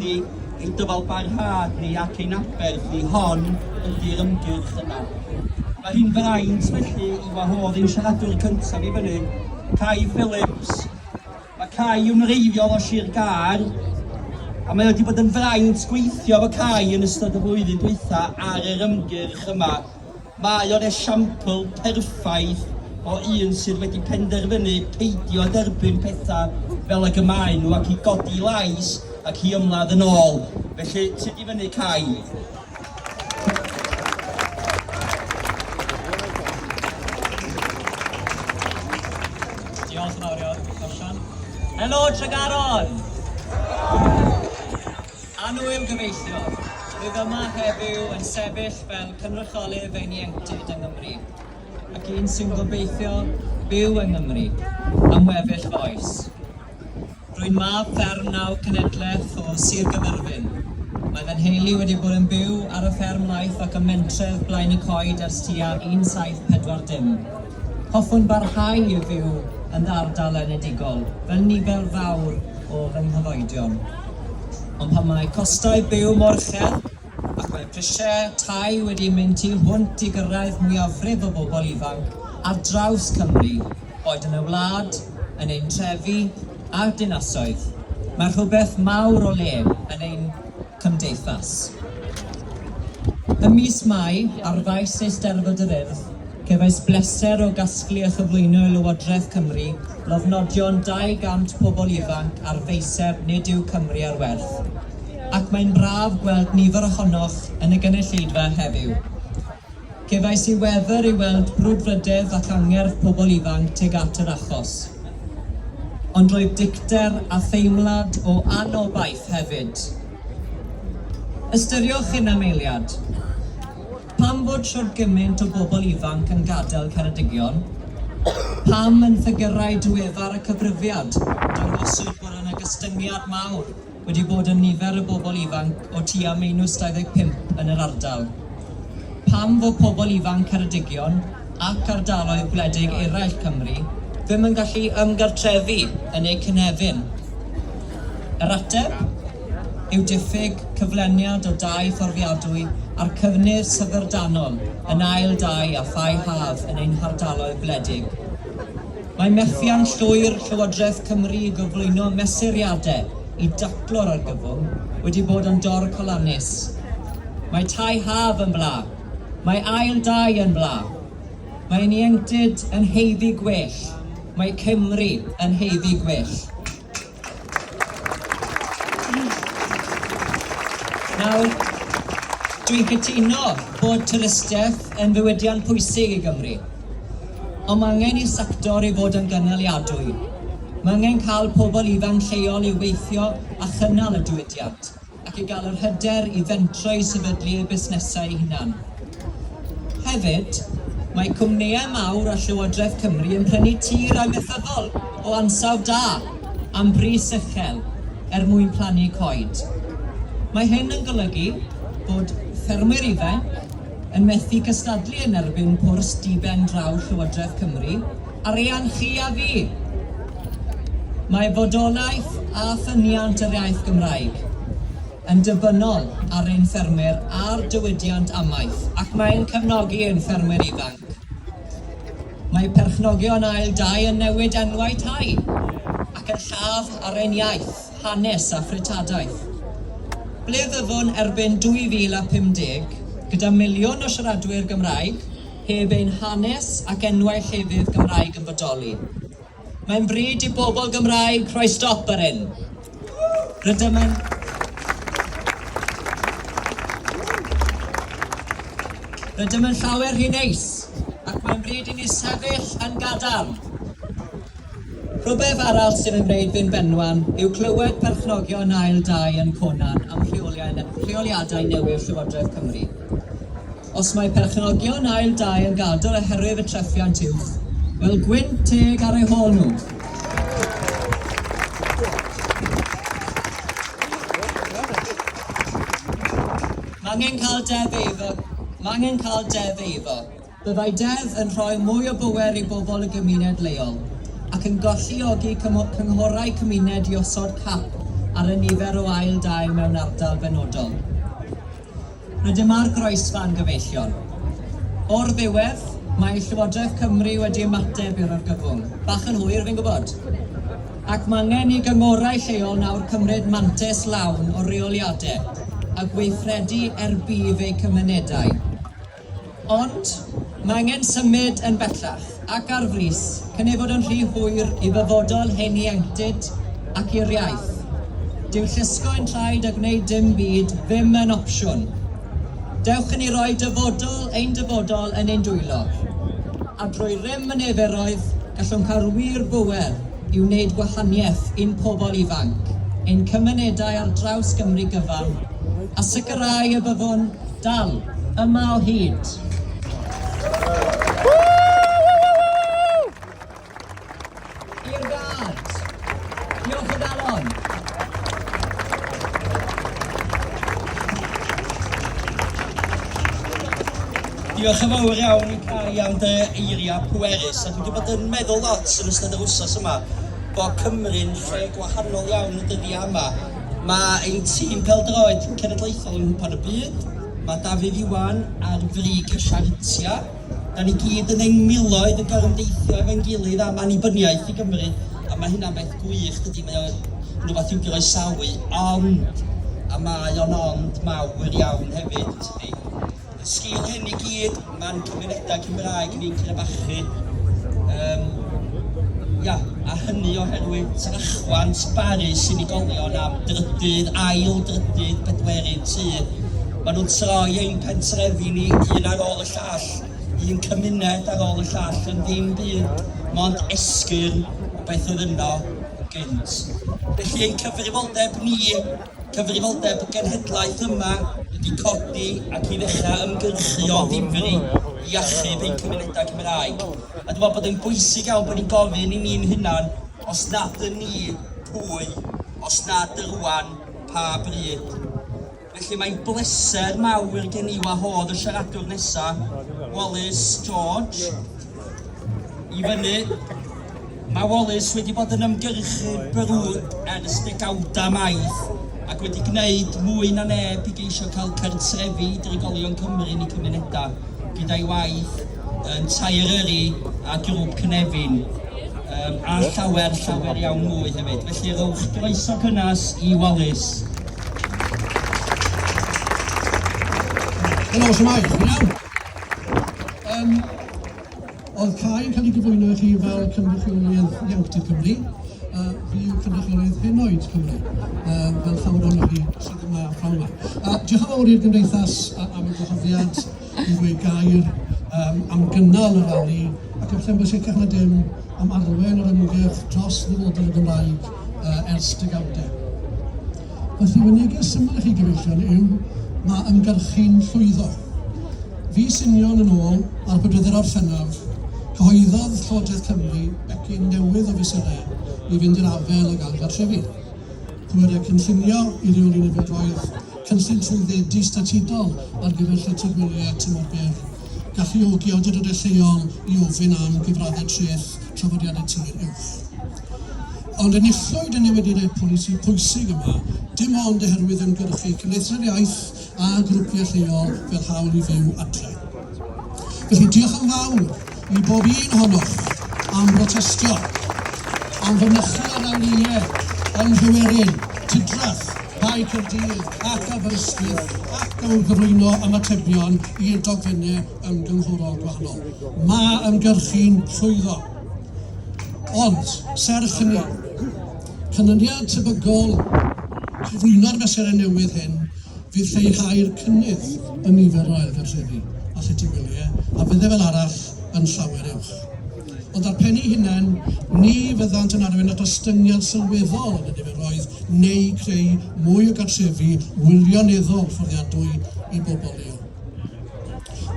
Ydy ein dyfalbarhad ni ac ein aberth ni, hon ydy'r ymgyrch yna. Mae hi'n fraint felly i wahodd ein siaradwr cyntaf i fyny, Cai Phillips. Mae Cai yn wreiddiol o Sir Gâr, a mae wedi bod yn fraint gweithio efo Cai yn ystod y flwyddyn dwytha ar yr ymgyrch yma. Mae o'n esiampl perffaith o un sydd wedi penderfynu peidio â derbyn pethau fel ag y maen nhw ac i godi lais ac i ymladd yn ôl. Felly, tyd i fyny Cai. Diolch yn fawr iawn, Osian. Helo, Tregaron! Annwyl gyfeillion, rwyf yma heddiw yn sefyll fel cynrychiolydd ein ieuenctid yng Nghymru, ac un sy'n gobeithio byw yng Nghymru am weddill fy oes. Rwy'n mab fferm naw cenedlaeth o Sir Gaerfyrddin. Mae fy nheulu wedi bod yn byw ar y fferm laeth ac ym mentref Blaen-y-coed ers tua 1740. Hoffwn barhau i fyw yn fy ardal enedigol, fel nifer fawr o fy nghyfoedion. Ond pan mae costau byw mor uchel, ac mae prisiau tai wedi mynd tu hwnt i gyrraedd mwyafrif y bobl ifanc ar draws Cymru, boed yn y wlad, yn ein trefi a'r dinasoedd, mae rhywbeth mawr o le yn ein cymdeithas. Ym mis Mai, ar faes Eisteddfod yr Urdd, cefais bleser o gasglu a chyflwyno i Lywodraeth Cymru lofnodion 200 pobl ifanc ar faeseb Nid yw Cymru ar Werth, ac mae'n braf gweld nifer ohonoch yn y gynulleidfa heddiw. Cefais i wefr i weld brwdfrydedd ac angerdd pobl ifanc tuag at yr achos. Ond roedd dicter a theimlad o anobaith hefyd. Ystyriwch hyn am eiliad. Pam fod shwd gymaint o bobl ifanc yn gadael Ceredigion? Pam yn ffigyrau diweddar y cyfrifiad dangoswyd bod yna gostyngiad mawr wedi bod yn nifer y bobl ifanc o tua meinws 25 yn yr ardal. Pam fo pobl ifanc Ceredigion ac ardaloedd gwledig eraill Cymru ddim yn gallu ymgartrefu yn eu cynefin? Yr ateb yw diffyg cyfleniad o dai fforddiadwy a'r cyfnir syfrdanol yn ail dai a thai haf yn ein hardaloedd gwledig. Mae methiant llwyr Llywodraeth Cymru i gyflwyno mesuriadau i daclo'r argyfwng wedi bod yn dorcalonnus. Mae tai haf yn bla, mae ail dai yn bla, mae ein ieuenctid yn haeddu gwell, mae Cymru yn haeddu gwell. Nawr, dwi'n cytuno bod twristiaeth yn ddiwydiant pwysig i Gymru, ond mae angen i'r sector ei fod yn gynaliadwy. Mae angen cael pobl ifanc lleol i weithio a chynnal y diwydiant. ac i gael yr hyder i fentro i sefydlu eu busnesau eu hunain. Hefyd, mae cwmnïau mawr a Llywodraeth Cymru yn prynu tir amaethyddol o ansawdd da am bris uchel er mwyn plannu coed. Mae hyn yn golygu bod ffermwyr ifainc yn methu cystadlu yn erbyn pwrs di-ben draw Llywodraeth Cymru, Arian chi a fi! Mae bodolaeth a ffyniant yr iaith Gymraeg yn ddibynnol ar ein ffermwyr a'r diwydiant amaeth ac mae'n cefnogi ein ffermwyr ifanc. Mae perchnogion ail dai yn newid enwau tai ac yn lladd ar ein iaith, hanes a threftadaeth. Ble fyddwn erbyn 2050 gyda miliwn o siaradwyr Gymraeg? heb ein hanes ac enwau llefydd Gymraeg yn bodoli. Mae'n bryd i bobl Gymraeg rhoi stop ar hyn. Rydym yn... Rydym yn llawer rhy neis, ac mae'n bryd i ni sefyll yn gadarn. Rhywbeth arall sydd yn gwneud fi'n benwan yw clywed perchnogion ail dai yn Conan am rheoliau, rheoliadau newydd Llywodraeth Cymru. Os mae perchnogion ail dai yn gadael oherwydd y treffiant uwch, wel gwynt teg ar eu hôl nhw. Mangen cael deddf eiddo. Mangen cael deddf eiddo. Byddai deddf yn rhoi mwy o bŵer i bobl y gymuned leol ac yn golluogi cynghorau cymuned i osod cap ar y nifer o ail dai mewn ardal benodol. A dyma'r groesfa'n gyfeillion. O'r ddiwedd, mae Llywodraeth Cymru wedi ymateb i'r argyfwng. Bach yn hwyr, fi'n gwybod. Ac mae angen i gyngorau lleol nawr cymryd mantais lawn o reoliadau a gweithredu er budd eu cymunedau. Ond, mae angen symud yn bellach, ac ar frys, cyn ei fod yn rhy hwyr i ddyfodol hen ieuenctid ac i'r iaith. Dyw llusgo yn traed a gwneud dim byd ddim yn opsiwn. Dewch i ni roi dyfodol ein dyfodol yn ein dwylo. A drwy rym y neferoedd, gallwn cael wir bŵer i wneud gwahaniaeth i'n pobl ifanc, ein cymunedau ar draws Gymru gyfan, a sicrhau y byddwn Dal yma o hyd! I'r gad! Diolch o galon! Diolch yn fawr iawn i Cai am dy eiriau pwerus a dwi wedi bod yn meddwl lot yn ystod yr wsos yma bod Cymru'n lle gwahanol iawn y dyddiau yma. Mae ein tîm pêl-droed cenedlaethol yng Nghwpan y Byd, mae Dafydd Iwan ar frig y siartiau. Da ni gyd yn ein miloedd yn gorymdeithio efo'n gilydd am annibyniaeth i Gymru, a mae hynna'n beth gwych dydy, mae o'n rhywbeth i'w groesawu, ond, a mae o'n ond mawr iawn hefyd, tydi? sgil hyn i gyd, mae'n cymunedau Cymraeg ni'n crebachu. Um, ia, a hynny oherwydd trachwant barus unigolion am drydydd, ail drydydd, bedwerydd tu. Maen nhw'n troi ein pentrefi ni un ar ôl y llall, un cymuned ar ôl y llall yn ddim byd, mond esgyrn o beth oedd yno yn gynt. Felly ein cyfrifoldeb ni Cyfrifoldeb genhedlaeth yma ydi codi ac i ddechrau ymgyrchu o ddifri i achub ein cymunedau Cymraeg. A dwi'n meddwl bod e'n bwysig iawn bod ni'n gofyn i ni'n hunan, os nad yn ni, pwy? Os nad y rŵan, pa bryd? Felly mae'n bleser mawr gen i wahodd y siaradwr nesa', Wallace George. I fyny, mae Wallace wedi bod yn ymgyrchu brwd ers degawdau maith ac wedi gwneud mwy na neb i geisio cael cartrefi i drigolion Cymru yn eu cymunedau, gyda'i waith yn Tair Yrru a Grŵp Cynefin, um, a llawer, llawer iawn mwy hefyd. Felly rowch groeso cynnes i Wallace. Helo, siwmai, chi'n iawn? Um, oedd cael yn cael ei gyflwyno i chi fel cynrychiolydd Ieunctid Cymru, a uh, fi yw cynrychiolydd henoed Cymru, uh, fel llawer o'n chi sydd yma a phnawn yma. Uh, diolch yn fawr i'r gymdeithas am y gwahoddiad i ddweud gair um, am gynnal y rali, ac efallai bod sicr na dim am arwain yr ymgyrch dros ddyfodol y Gymraeg uh, ers degawdau. Felly, fy neges syml i chi gyfeillion yw, mae ymgyrchu'n llwyddo. Fis union yn ôl, ar bedwydr Orffennaf, cyhoeddodd Llywodraeth Cymru becyn newydd o fesurau i fynd i'r afael ag ailgartrefu. Pwerau cynllunio i reoli nifergoedd, cynllun trwyddedu statudol ar gyfer llety gwelyau tymor byr, galluogi awdurdodau lleol i ofyn am gyfraddau treth trafodiadau tir uwch. Ond enillwyd y newyddiadau polisi pwysig yma dim ond oherwydd ymgyrchu Cymdeithasau'r Iaith a grwpiau lleol fel Hawl i Fyw Adre. Felly, diolch yn fawr i bob un ohonoch am brotestio, am fynychu ar anwyliau yng Nghywerin, Tudrath, Bae Caerdydd ac Aberystwyth ac dylwn gyflwyno ymatebion i'r dogfennau ymgynghorol gwahanol. Mae ymgyrchu'n llwyddo. Ond, serch hynny, canlyniad tebygol cyflwyno'r fesurau newydd hyn fydd lleihau'r cynnydd yn nifer yr ailgartrefi a llety gwyliau, a fyddai fel arall yn llawer uwch. Ond ar pen ei hunain, ni fyddant yn arwain at ostyngiad sylweddol yn y niferoedd neu greu mwy o gartrefi wirioneddol fforddiadwy i bobl leol.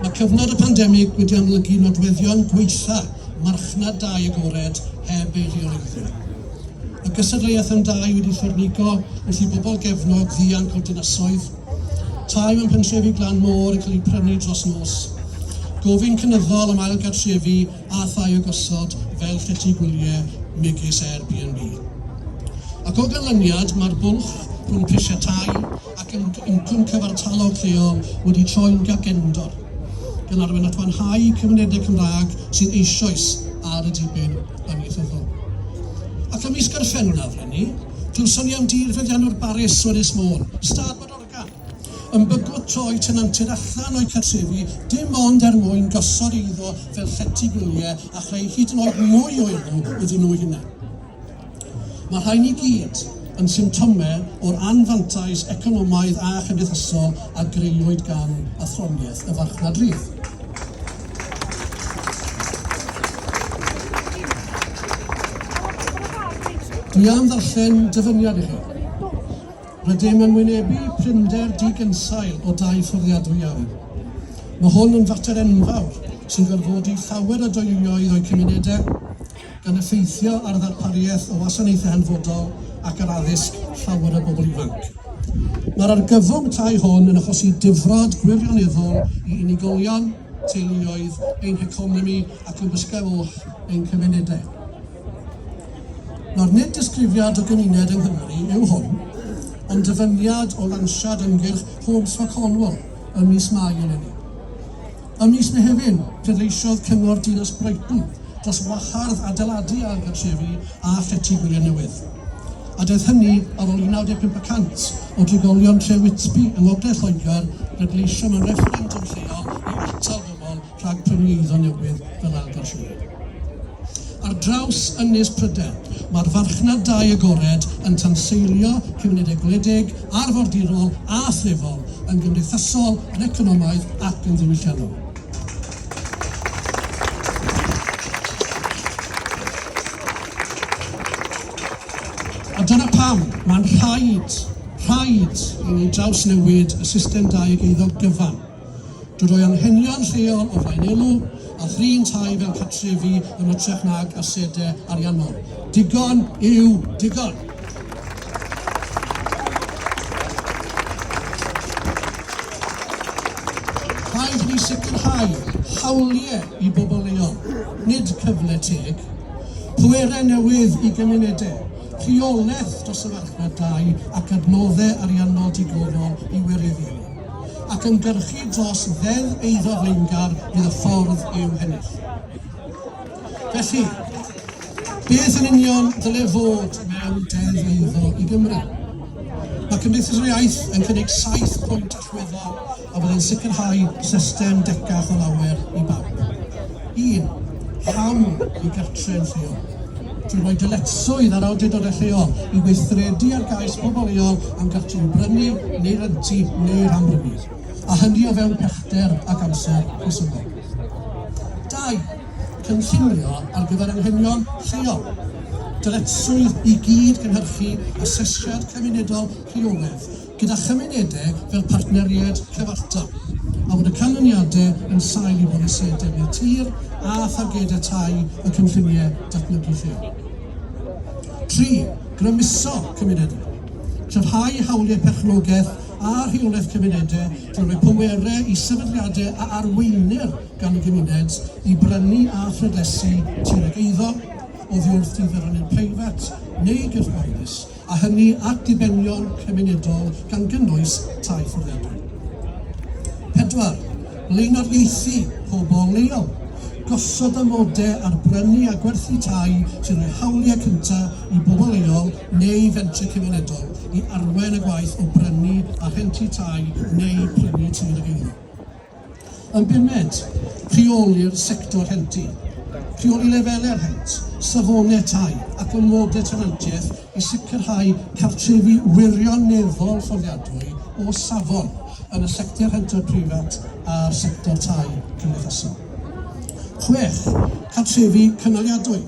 Mae cyfnod y pandemig wedi amlygu nodweddion gwaetha' marchnad dai agored heb ei reoleiddio. Y gystadleuaeth am dai wedi llornigo wrth i bobl gefnog ddianc o'r dinasoedd, Tai mewn pentrefi glan môr yn cael eu prynu dros nos. Gofyn cynyddol am ail gartrefi a thai o gosod fel llety gwyliau megis Airbnb. Ac o ganlyniad, mae'r bwlch rhwng prisiau tai ac incwm cyfartalog lleol wedi troi'n gagendor, gan arwain at wanhau cymunedau Cymraeg sydd eisoes ar y diben amaethyddol. Ac ym mis Gorffennaf, ry'n ni, Clywsom ni am dir feddianwr Baris o Ynys Môn, Stad Bodorgan, yn bygwth troi tenantiaid allan o'u cartrefi dim ond er mwyn gosod eiddo fel llety gwyliau a chreu hyd yn oed mwy o elw iddyn nhw'u hunain. Mae'r rhain i gyd yn symptomau o'r anfantais economaidd a chymdeithasol a greuwyd gan athroniaeth y farchnad rydd. Dwi am ddarllen dyfyniad i chi. Rydym yn wynebu prinder digynsail o dai fforddiadwy iawn. Mae hwn yn fater enfawr sy'n gorfodi llawer o deuluoedd o'u cymunedau yn effeithio ar ddarpariaeth y wasanaethau hanfodol ac ar addysg llawer o bobl ifanc. Mae'r argyfwng tai hwn yn achosi difrod gwirioneddol i unigolion, teuluoedd, ein heconomi ac yn bysgau oll ein cymunedau. Nawr, nid disgrifiad o gymuned yng Nghymru yw hwn, ond dyfyniad o lansiad ymgyrch Homes for Cornwall ym mis Mai eleni. Ym mis Mehefin, pleidleisiodd Cyngor Dinas Brighton dros wahardd adeiladu ail gartrefi a Llety Gwyliau Newydd. A daeth hynny ar ôl i 95 y cant o drigolion tre Whitby yng ngogledd Lloegr bleidleisio mewn refferendwm lleol i atal bobl rhag prynu eiddo newydd fel ail gartrefi. Ar draws Ynys Prydain, mae'r farchnad dai agored yn tanseilio cymunedau gwledig, arfordirol a threfol, yn gymdeithasol, yn economaidd ac yn ddiwylliannol. A dyna pam mae'n rhaid, rhaid i ni drawsnewid y system dai ag eiddo gyfan. Dw roi anghenion lleol o flaen elw, a thrin tai fel cartrefi yn ytrach nag asede ariannol. Digon yw digon! Rhaid i ni sicrhau hawliau i bobl leol, nid cyfle teg. Pwerau newydd i gymunedau, rheolaeth dros y farchnad dai ac adnoddau ariannol digonol i wireddu. ac ymgyrchu dros Ddeddf Eiddo Flaengar fydd y ffordd i'w hennill. Felly, beth yn union dyle fod mewn Deddf Eiddo i Gymru? Mae Cymdeithas yr Iaith yn cynnig saith pwynt allweddol a byddai'n sicrhau system decach o lawer i bawb. 1. Hawl i gartre'n lleol. Drwy roi dyletswydd ar awdurdodau lleol i weithredu ar gais pobl leol am gartrefi brynu neu rentu neu rhanbrynu, a hynny o fewn pellter ac amser rhesymol. Dau, cynllunio ar gyfer anghenion lleol. Dyletswydd i gyd-gynhyrchu asesiad cymunedol rheolaidd gyda chymunedau fel partneriaid cyfartal, a bod y canlyniadau yn sail i bolisïau defnydd tir a thargedau tai y cynlluniau datblygu lleol. Tri, grymuso cymunedau. Cryfhau hawliau perchnogaeth a rheolaeth cymunedau drwy roi pwerau i sefydliadau a arweinir gan y gymuned i brynu a phrydlesu tir ag eiddo, oddi wrth i ddyfarnydd preifat neu gyrff gyhoeddus a hynny at ddibenion cymunedol gan gynnwys tai fforddiadwy. Pedwar, blaenoriaethu pobl leol, gosod amodau ar brynu a gwerthu tai sy'n rhoi hawliau cyntaf i bobl leol neu fentrau cymunedol i arwain y gwaith o brynu a rhentu tai neu prynu tir ag eiddo. Yn bumed, rheoli'r sector rhentu, rheoli lefelau'r rhent, safonau tai ac ormodedd tenantiaeth i sicrhau cartrefi wirioneddol fforddiadwy o safon yn y sector rhentau preifat a'r sector tai cymdeithasol. Chwech, cartrefi cynaliadwy.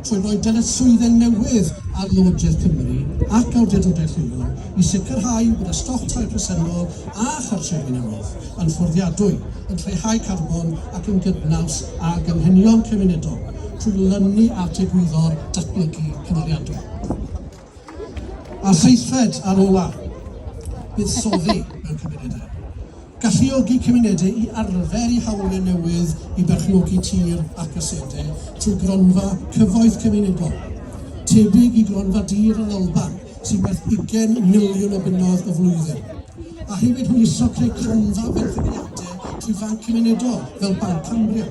trwy roi dyletswydde newydd ar Lywodraeth Cymru ac awdurdodaeth leol i sicrhau bod y stoc tai presennol a chartrefi newydd yn fforddiadwy, yn lleihau carbon ac yn gydnaws ag anghenion cymunedol, trwy lynu at egwyddor datblygu cynaliadwy. A seithfed a'r ola, buddsoddi mewn cymunedau. Galluogi cymunedau i arfer i hawliau newydd i berchnogi tir ac asedau trwy gronfa cyfoeth cymunedol, tebyg i gronfa dir yn Alban sy'n werth 20 miliwn o bunnoedd y flwyddyn, a hefyd hwyluso creu cronfa benthyciadau trwy fanc cymunedol fel Banc Cambria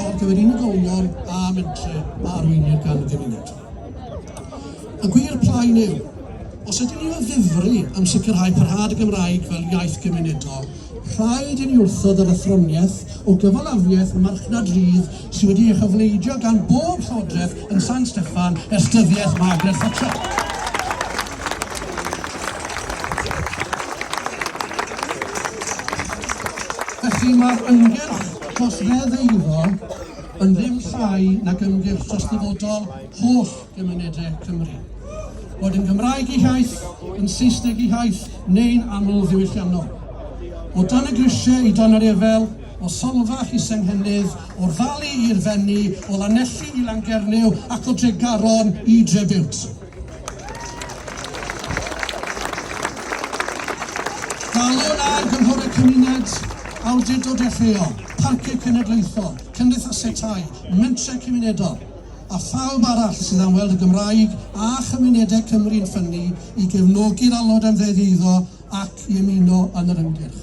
ar gyfer unigolion a mentrau a arweinir gan y gymuned. Y gwir plaen yw, os ydyn ni o ddifri am sicrhau parhad y Gymraeg fel iaith gymunedol, rhaid i ni wrthod yr athroniaeth o gyfalafiaeth marchnad rydd sydd wedi ei chyfleidio gan bob llywodraeth yn San Steffan ers dyddiaeth Margaret Thatcher. Felly mae'r ymgyrch dros ddeddf eiddo yn ddim llai nag ymgyrch dros ddyfodol holl gymunedau Cymru. Bod yn Gymraeg i hiaith, yn Saesneg i hiaith, neu'n aml ddiwylliannol. O dan y grisiau i dan yr efel, o Solfach i Senghennydd, o'r Fali i'r Fenni, o Lanelli i Langernyw ac o Dregaron i Drebiwt. Galon ar gynghorau cymuned, awdurdodau lleol, parciau cenedlaethol, cymdeithasau tai, mentrau cymunedol a phawb arall sydd am weld y Gymraeg a chymunedau Cymru'n ffynnu i gefnogi'r alod am ddeddf eiddo ac i ymuno yn yr ymgyrch.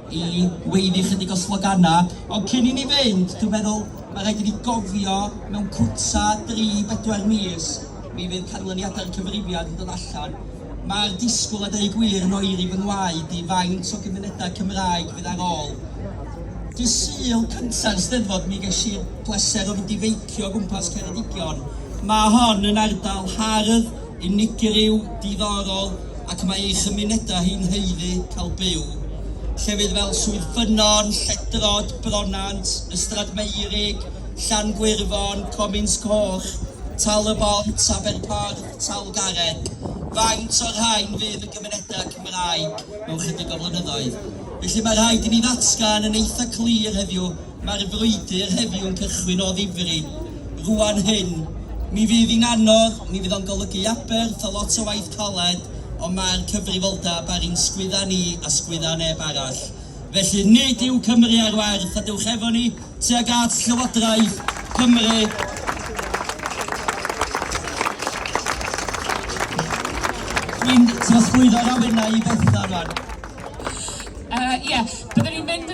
i weiddi chydig o sloganau, ond cyn i ni fynd, dwi'n meddwl, mae rhaid i ni gofio, mewn cwta dri, bedwar mis, mi fydd canlyniadau'r cyfrifiad yn dod allan. Mae'r disgwyl, a deud gwir, yn oeri fy ngwaed i faint o gymunedau Cymraeg fydd ar ôl. Dydd Sul cynta'r Steddfod mi ges i'r pleser o fynd i feicio o gwmpas Ceredigion. Mae hon yn ardal hardd, unigryw, diddorol ac mae ei chymunedau hi'n haeddu cael byw. Llefydd fel Swydd Ffynnon, Lledrod, Bronant, Ystrad Meurig, Llan-gwirfon, Comins Coch, Tal y Bont, Aberporth, Talgarreg, faint o'r rhain fydd yn gymunedau Cymraeg mewn chydig o flynyddoedd? Felly mae rhaid i ni ddatgan yn eitha' clir heddiw Mae'r frwydr heddiw'n cychwyn o ddifri. Rŵan hyn, mi fydd hi'n anodd, mi fydd o'n golygu aberth a lot o waith caled, ond mae'r cyfrifoldeb ar ein sgwydda ni a sgwydda neb arall. Felly, nid yw Cymru ar werth, a dewch efo ni tuag at Llywodraeth Cymru. Dwi'n trosglwyddo'r awenau i Bethan rwan. Yy, ie, byddwn ni'n mynd yn y